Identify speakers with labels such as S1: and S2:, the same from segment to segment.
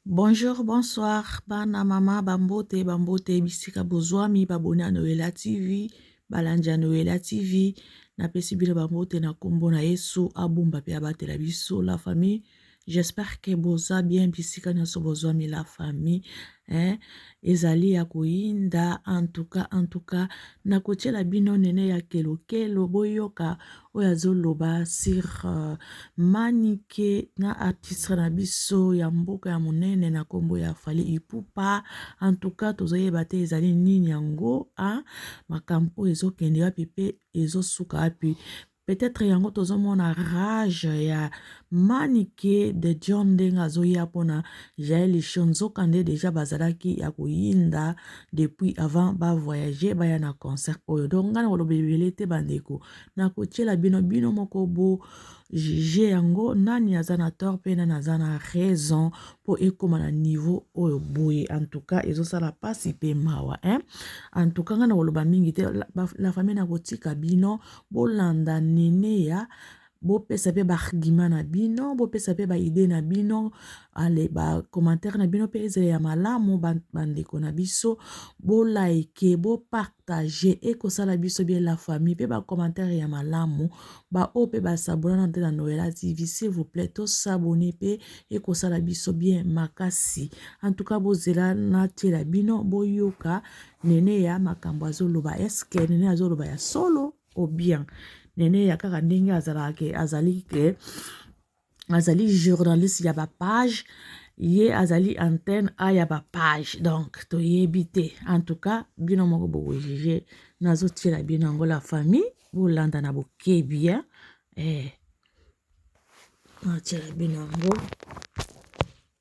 S1: Bonjour, bonsoir, bana mama bambote bambote bisika bozwami baboni ya Noela TV balandi ya Noela TV napesi bino bambote na nkombo na Yesu abomba mpe abatela biso la famille j'espère que boza bien bisika nyonso bozwami la famille eh, ezali ya koyinda antuka antuka nakotyela bino nene ya kelokelo boyoka oyo azoloba sur uh, manike na artiste na biso ya mboka ya monene na nkombo ya fali ipupa en tout cas tozoyeba te ezali nini yango a makambo oyo ezokende wapi mpe ezosuka wapi peut-être yango tozomona rage ya manike de john ndenge azoya mpona jael lisho nzoka nde deja bazalaki ya koyinda depuis avant bavoyage baya na concert oyo donc ngai na koloba ebele te bandeko nakotiela bino bino moko bo juge yango nani aza na tort mpe nani aza na raison mpo ekóma na niveau oyo boye en tout cas ezosala mpasi mpe mawa hein? en tout cas ngai nakoloba mingi te la famille nakotika bino bolanda neneya bopesa mpe baargument na bino bopesa mpe baide na bino ale bacommentaire na bino mpe ezala ya malamu bandeko na biso bolaike bopa Partage eko sala biso bien la famille pe ba commentaire ya malamu ba oyo pe ba s'abonna nanu te na noella TV s'il vous plait to s'abonner pe eko sala biso bien makasi en tout cas bo zela na tiela bino bo yoka neneya makambu azo loba est ce que neneya azo loba ya solo ou bien neneya kaka ndenge azalaka ke azali ke azali journaliste ya bapage ye azali antenne a ya bapage donc toyebi te en tout cas bino moko bokojuge nazotiela bino yango la famille bolanda na bokebi ya eh. nazotiela bino yango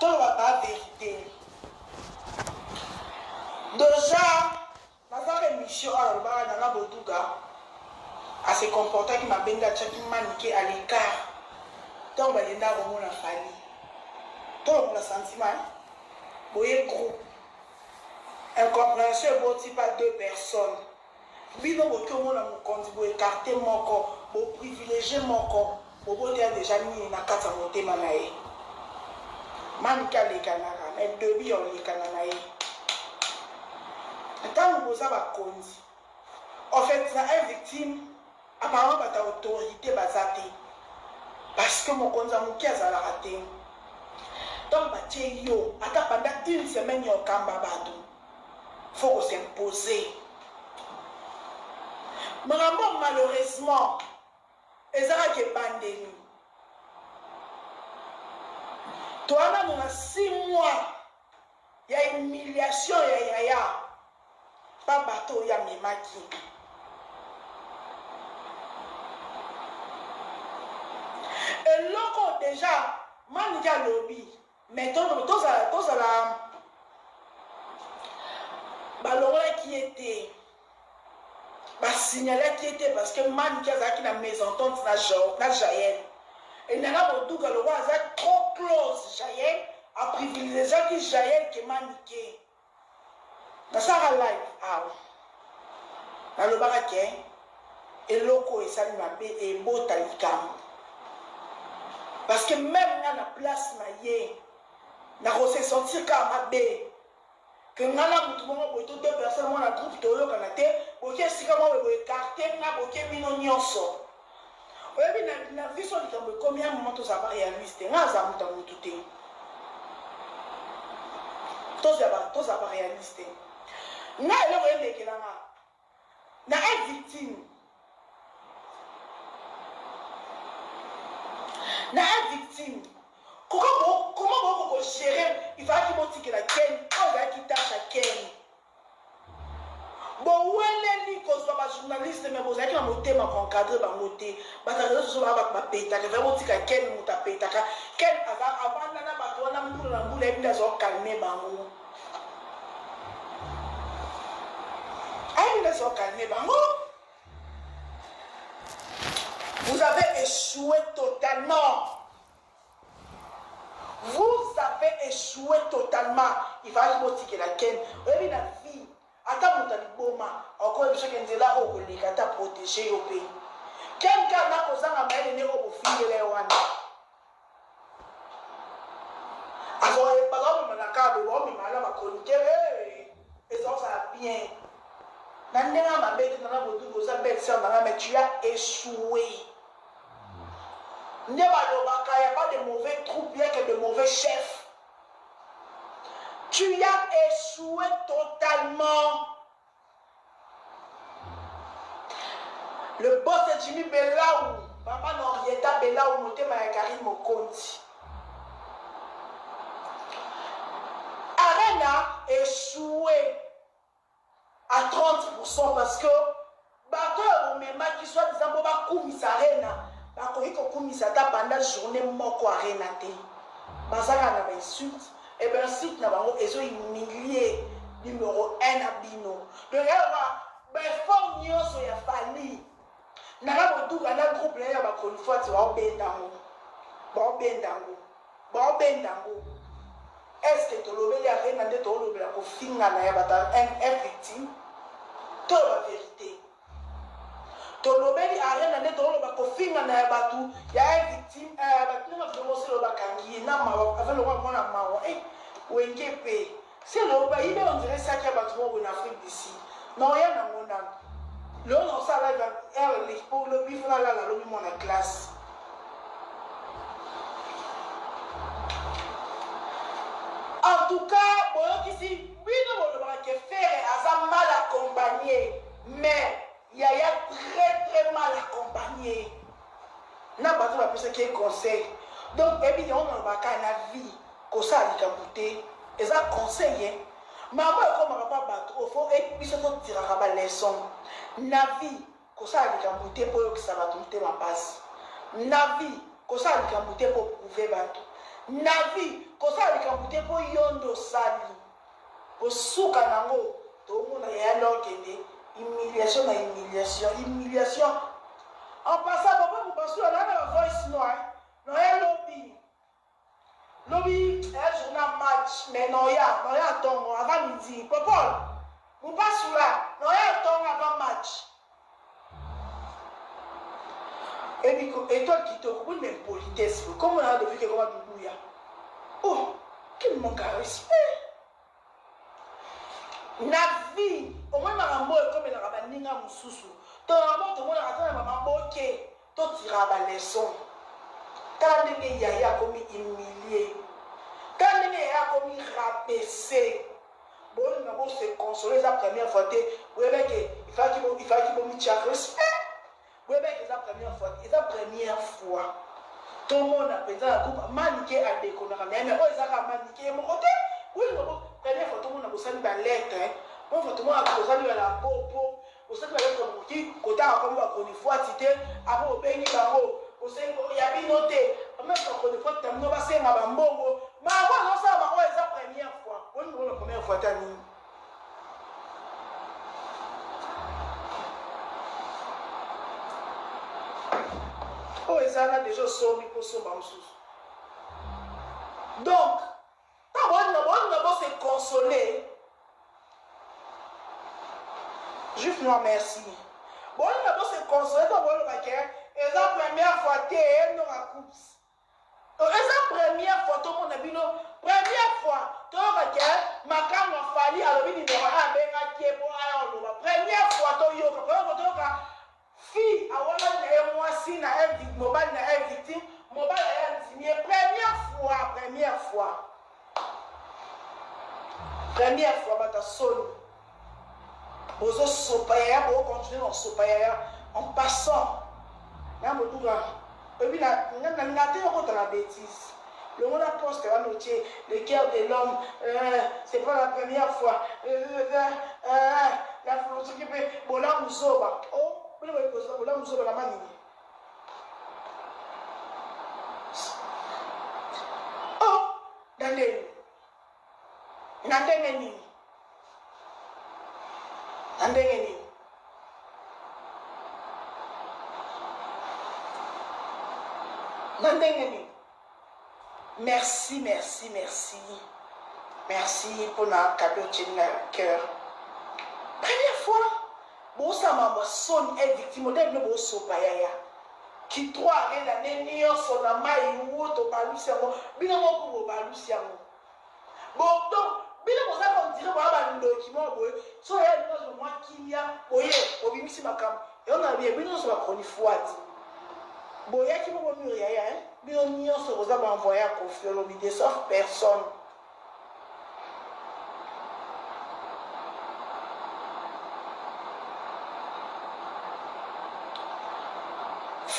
S2: Toloba ba verite dejà naza emission oyo alobaka nana boduga a se comportaki mabe nde atiaki manike à l'ecart tango balenda komona fally tolongola sentiment hein? boye groupe incomprehension eboti pas deux personnes Bino boki omona mokonzi bo ecarte moko bo privilegie moko boboteya deja nini na kati ya motema na ye manike alekanaka mais debut ya olekana na ye ntango boza bakonzi ofet na un victime apparemment bata autorite baza te parce que mokonzi ya moke azalaka te ntango batie yo ata panda une semaine ya okamba bato faut ko s'imposer makambo oyo malheureusement eza kaka ebandeli toa nanu na six mois ya humiliation ya yaya pa bato oyo amemaki eloko deja manike alobi Mais tondolo tozala tozala ba longolaki ye te ba signalaki ye te parce que manike azalaki na mesentente na Jao- na jael et nana boduga lokola aza trop close jael a privilegiaki jael ke manike Nasalaka like awa nalobaka ke eloko esali mabe ebota likambu parce que meme nga na place na ye nako se sentir kaka mabe que nga na mutu moko boye to deux personnes moko na groupe toyokana te boke esika moko boye bo ecarte nga boke bino nionso Oyebi na na biso likambo ekomi y'a moment tozala ba realiste nga naza mutu ya mutu te tozala ba tozala ba realiste nga eloko elekela nga na a victime na a victime koko bo koma boko ko gérer il fallait ki botikela Ken oyo ezalaki tâche ya Ken Boweleli kozua ba journaliste mais bozalaki na motema ko encadre bango te bazala reseaux sociaux baya batu ba petaka vraiment botika ken mutu apetaka ken aza avanda na batu wana mbula na mbula ayebi nde azo calme bango ayebi nde azo calme bango vous avez echoue totalement Vous avez echoue totalement ifalaki botikela ken oyebi na vie ata mutu aliboma akoki koyebisa yo ke nzela oyo okoleka ata protege yo pe ken kaka na kozanga mayele nde oyo bofingela ye wana azoye bazaomema na kaka boye baomema na ba chroniqueur hee ezaozala bien na ndenge ya mabe te nana bodudu oza belle sœur nanga mais tu as echoue Nde balobaka yaba de mauvais troupes rien que de mauvais chefs tu as echoue totalement le boss de Jimmy Belawu maman Henrietta Belawu motema ya Carine Mokonzi arena echoue à 30 pourcent parce que batu oyo bomemaki soit disant po bakumisa arena bakoki kokumisa ata banda journee moko arena te baza kaka na ba insulte et ba insulte na bango ezo humilie numero un na bino donc yaloba ba effort nionso ya fally Nana boduga na groupe naye ya ba chronifuati bao benda ngo bao benda ngo bao benda ngo est ce que tolobeli arena nde toolobela kofingana ya batu ya un victime toloba verite tolobeli arena nde tooloba kofingana ya batu ya un victime eh, batu nanga vraiment selo bakangi ye na mawa aza lokola mwana mawa eh wenge pe Celeo bayiba on dirait sac ya batu moko boye na Afrique du Sud mais oya na ngo nanu lelo nako sala live ya heure eleki po lobi il faut na lala lobi muana classe. En tout cas boyokisi bino bolobaka que Ferre aza mal accompagne mais Yaya très très mal accompagne na batu bapesaki ye conseil donc oyebi yango nalobaka na vie kosala likambo te eza conseil ye mama ekomaka mpa bato oyo fo biso totiraka baleson na vie kosala likambo te mpo oyokisa bato motema mpasi na vie kosala likambo te mpo prouve bato na vie kosala likambo te mpo yondo osali Kosuka nango tomona yaya l'or kende humiliation na humiliation humiliation en passant papa mobasula nanga ba voice noix noya lobi lobi yaya journal match mais noya noya tongo avant midi popol mobasula noya tongo avant match Ebiko etoile kitoko oui mais impolitesse boye kombo na Ludovic ekoma luluya oh quel manque à respect na vie omoni makambo oyo ekomelaka baninga mosusu to na mabota omonaka ata na ba maboke To tiraka ba leçons. Tala ndenge yaya akomi humilier. Tala ndenge yaya akomi rabaisser. Bolinga bo se consoler eza première fois te. Boyebaki ke il falaki bo il falaki bo mitia respect. Boyebaki ke eza première fois te. Eza première fois tomona penza na groupe Manike a deconaka naye mais oyo eza kaka Manike ye moko te. Bolinga bo première fois tomona bosali ba lettres. Première fois tomona bosali ba la bobo. Bosopi bayoki na bokoki kotanga kombo ba chronifuati te après bobengi bango bosengi kombo ya bino te ba meme ba chronifuati na bino basenga ba mbongo bango bazosala bango eza première fois boni bokomi ba première fois ta nini oyo eza na deja osombi mpo osomba mosusu donc Ba bolinga bolinga bo se consoler juste moi merci bolinga bo se consoler to boloba ke eza première fois te no ba coups eza première fois to mona bino première fois to yoka ke makambo fali alobi ni ndoka a benga ke po aya oloba première fois to yoka po yoka to yoka Fille awangani na ye mwasi na invite mobali na invite mobali aye andimi ye première fois première fois première fois bato ya soni bozosopa yaya bo continuer na kosopa yaya en passant na boduga Oyebi na na linga te okota na betise longola poste wana otie le cœur de l'homme eeh c'est pas la première fois eeh la philosophie pe bolamu zoba oh bino boyebi kozo bolamu zoba na manini oh Daniel Na ndenge nini? Na ndenge nini? Na ndenge nini? Merci, merci, merci. Merci mpo na cadeau otyeli na cœur. Première fois Bousa mama soni eh victime oteya bino bo sopa yaya ki trois annees l'annee nionso na mayi wuu tobalusi yango bino moko kutu bobalusi yango bo donc bino boza comme dire boza ba ndoki moko boye soki yaya alingi azua mua kimia boye bobimisi makambu yango na lobi bino nionso ba chronifuati boyaki moko mur yaya hein bino nionso boza ba envoye ya koffi olomide sauf personne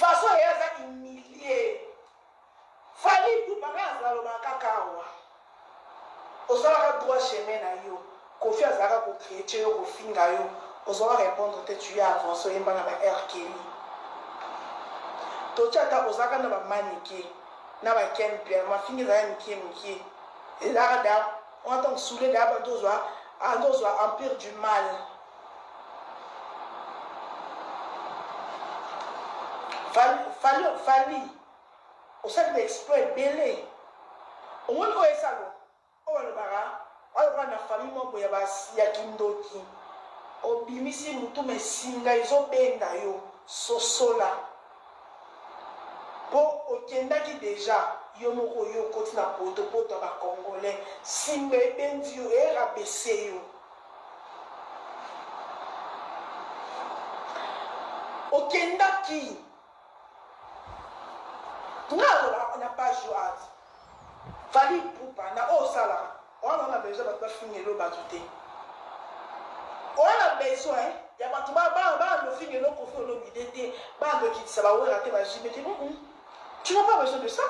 S2: façon ye aza humilie fali pupa nga azaloba kaka awa ozalaka droit chemin na yo Koffi azalaka ko creche yo ko finga yo ozo a repondre te tu es avance oyemba na ba R Kelly totie ata oza kaka na ba manike na ba ken pia mafinga ezalaka mikie mikie ezalaka da on a tango soule da banda ozwa banda ozwa empire du mal fali fali fali osali ba exploit ebele omoni oyo esalo Oyo alobaka aza lokola na famille moko boye ya ba ya kindoki obimisi mutu mais singa ezo benda yo sosola po okendaki dejà yo moko yo okoti na poto poto ya ba congolais singa ebendi yo e rabaisser yo okendaki Nga alobaka na page yo art Fally Ipupa na oyo osalaka oa vraiment besoin batu bafingela yo batu te oa na besoin ya batu ba ba bando ofingela yo Koffi Olomide te bando okitisa ba Werra te ba JB te mm -mm. tu n'as pas besoin de ça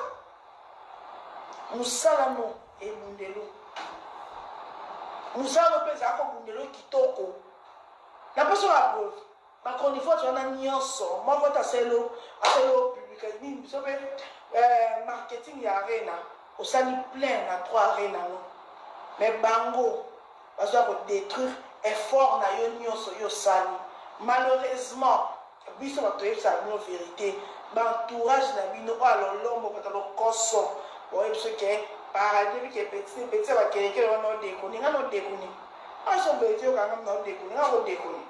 S2: musala no ebundelo musala no mpe ezalaka obundelo kitoko na mposo ya preuve Ba chronifuati wana nionso moko te aselo aselo publica nini biso pe eh, marketing ya arena osali plein na trois arena no mais bango bazo ya ko detruire effort na yo nionso yo osali malheureusement biso bato toyebisaka bino verite ba entourage na bino oyo alolombo bato ya lokoso boye biso ke paradis bike petit petit ya ba kelekele wana odekoni nga na odekoni aso beti yo kanga na odekoni nga ko dekoni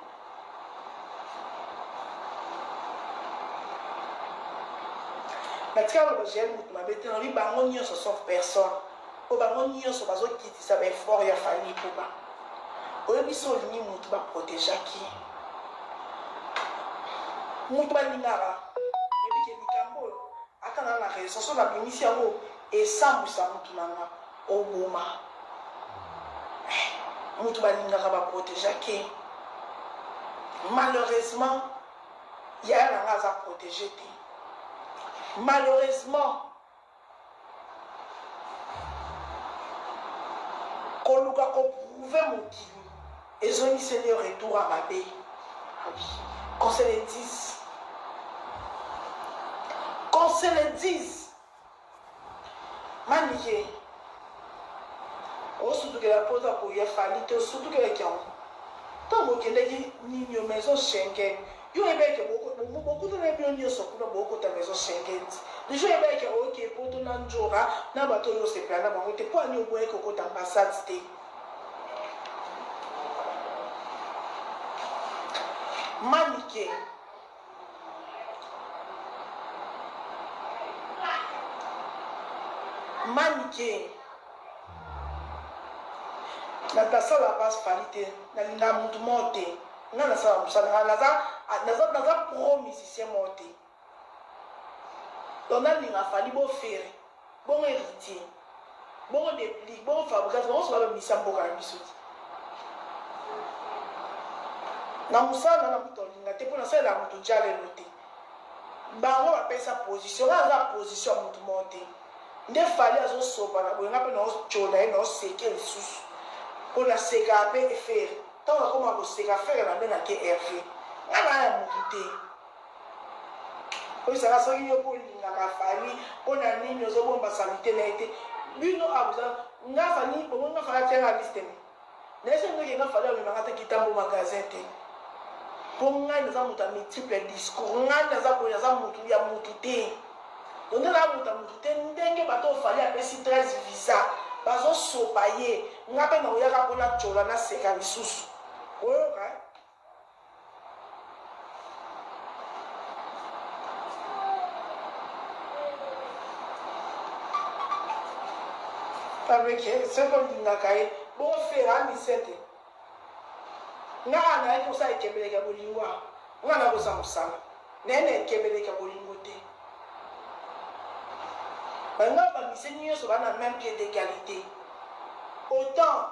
S2: natika loba jael moto mabe te nalobi bango nyonso sauf personne mpo bango nyonso bazokitisa baeffort ya fali ipupa oyebi so olingi motu baprotegeaki motu balingaka oyebike likambo oyo ata naa na raison so nabimisi yango esambwisa motu na nga Oboma mutu balingaka ba protegea te malheureusement yaya na nga aza protege te malheureusement koluka ko prouve mokili ezongiseli yo retour ya mabe qu'on se le dise qu'on se le dise Manike osutukela poto akoya fally te osutukelaki yango tango bokendaki ninio maison Schengen yo oyebaki ke bokutanaki bino nioso kuna bokota maison Schengen te dejà oyebaki ke oke poto na ndjora na batu oyo osepela na bango te pwani oboyaki kokota ambassade te manike. manike natasala bas fali te nalinga mutu moko te nga nasala mosala nga naza naza naza pro musicien moko te donc nalinga fali bofere Bongo heritier bongo deplick bongo fabrigance bango nionso bazo bisa mboka na biso te na musala nayo na mutu alinga te po na salelaka mutu djalelo te bango ba pesa position nga naza na position ya mutu moko te nde fally azo sopa na boye nga pe nao tshola ye nao seke lisusu po na sekaka pe ferre tango nakoma koseka ferre na bengake herve nga naza ya mutu te. Oyo saka soki yo pe olingaka Fally pona nini ozo bomba salite naye te bino a boza nga Fally bomoni nga Fally atia nga liste me naye soki ndoki nga Fally amema nga ata kitambo magasin te po ngai naza mutu ya multiple discours ngai naza boye naza mutu ya mutu te donde naza mutu ya mutu te ndenge bato oyo Fally apesi 13 visa bazo sopa ye nga pe na oyaka pona chola na seka lisusu oyoka Fabrique soki olingaka ye bongo fere amisete nga awa nayaki kosala ekebeleke ya bolingo awa nga nakosa mosala naye na ekebeleke ya bolingo te banga bamisi nyonso bana meme pied d'egalite autant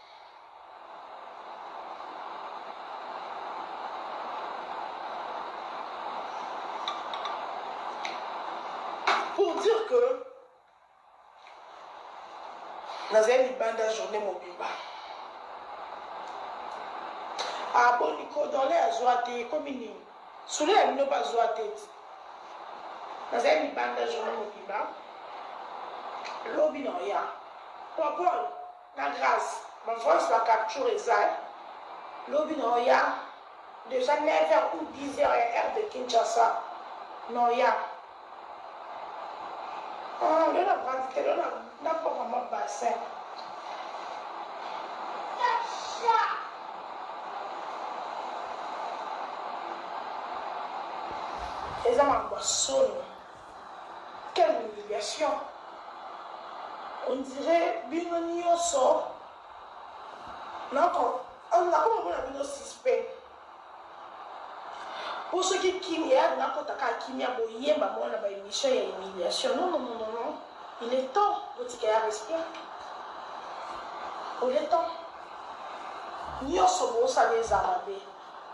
S2: pour dire que nazali libanda journée mobimba aboni ah, kodole azwa te ekomi nini sule ya bino bazwa te nazali libanda journée mobimba lobi na oya papol Na grace ma voice ba capture eza eh lobi na oya dejà 9 heures ou 10 heures ya heure de Kinshasa na oya ah lelo na vandi te lelo na poma ma bassin eza makambo ya soni Quelle humiliation on dirait bino nioso nako nakoma mona bino suspect po soki kimia nakota kaka kimia boyemba mwa na ba emission ya humiliation non non non non il est temps botika ya respect il est temps nioso bosala eza mabe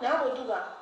S2: naya koduka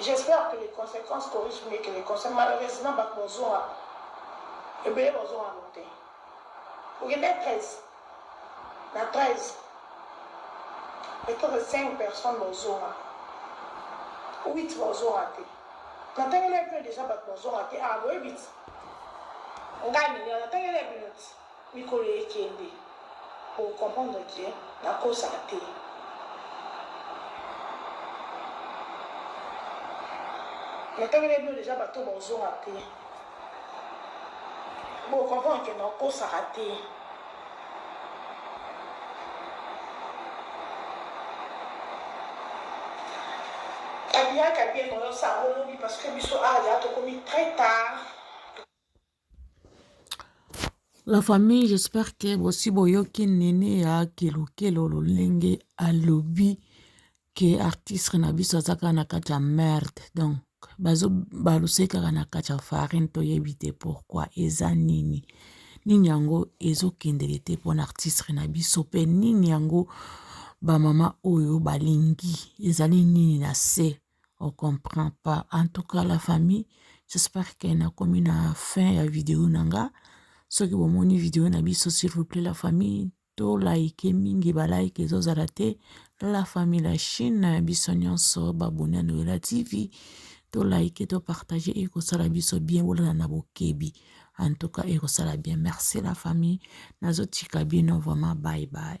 S2: J'espère que les consequences corrigent mieux que les conseils malheureusement batu bazonga ebele bazonga na bote okende 13 na 13 peut-etre 5 personnes bazonga 8 bazonga te natangeli mpe deja batu bazonga te ah boyebi ti ngai nini natangeli bino ti Mikolo ekende bo comprendre que na kosa te. Na tangelaki bino dejà batu oyo bako zonga te bo comprendre que na kosaka te. Abiyaka bien oyo sango lobi parce que biso awa dejà tokomi très tard.
S1: La famille j'espère que bosi boyoki nini ya kelokelo lolenge alobi ke artiste na biso aza kaka na kati ya merde donc bazo baluse kaka na kati ya farine toyebi te pourkua eza nini nini yango ezokendeke te mpona artiste na biso mpe nini yango bamama oyo balingi ezali nini na se. on comprend pas en tout cas la famille j'espère que nakomi na fin ya video na nga soki bomoni video na biso s'il vous plaît la famille to like mingi ba like ezozala te la famille la chine biso nyonso baboni ya noela tv to like to partage ekosala biso bien bolala na bokebi en tout cas ekosala bien merci la famille nazotika bino vraiment bye bye